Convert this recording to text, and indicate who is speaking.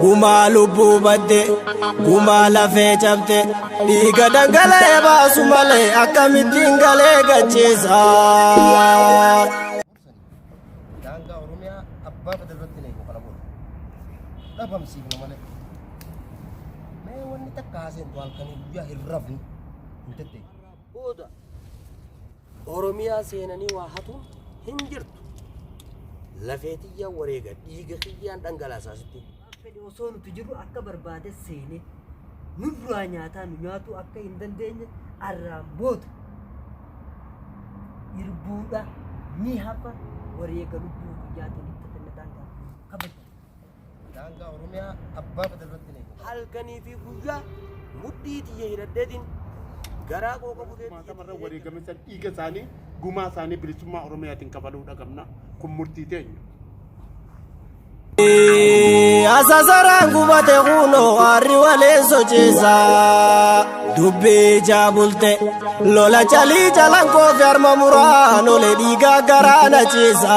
Speaker 1: Gumaa lubbuu badde gumaa lafee cabde dhiiga dhangala'ee baasu malee akkamittiin galee gachiisa.
Speaker 2: daangaa oromiyaa abbaa fedhe irratti hin eegu kana booda dhabamsiifna malee mee wanni takka haaseentu halkanii guyyaa hin rafne hin tetteeku
Speaker 1: booda Oromiyaa seenanii waa hatuun hin jirtu. Lafee tiyyaa wareega dhiiga kiyyaan dhangalaasaa sitti. Waan fedhe osoo nuti
Speaker 3: jirru akka barbaade seenee nurraa nyaataa nu nyaatuu akka hin dandeenye arraan booda irbuudha ni hafa wareega lubbuu guyyaatiin itti kennataan gaafata. Kabajaa.
Speaker 2: Daangaa Oromiyaa abbaa fedhe irratti ni eegama. halkanii fi
Speaker 1: guyyaa mudhii tiyya hidhadheetiin garaa koo qabu Kumaatamarra wareegame
Speaker 4: san dhiiga isaanii gumaa isaanii bilisummaa Oromiyaatiin kabaluu dhaqabna. Kun murtii teenya.
Speaker 1: Asasaraan gubate kunoo harri walee sochiisa. Dubbii ijaa bulte lola calii jalan koofi harma muraan ole dhiigaa garaa na ciisa.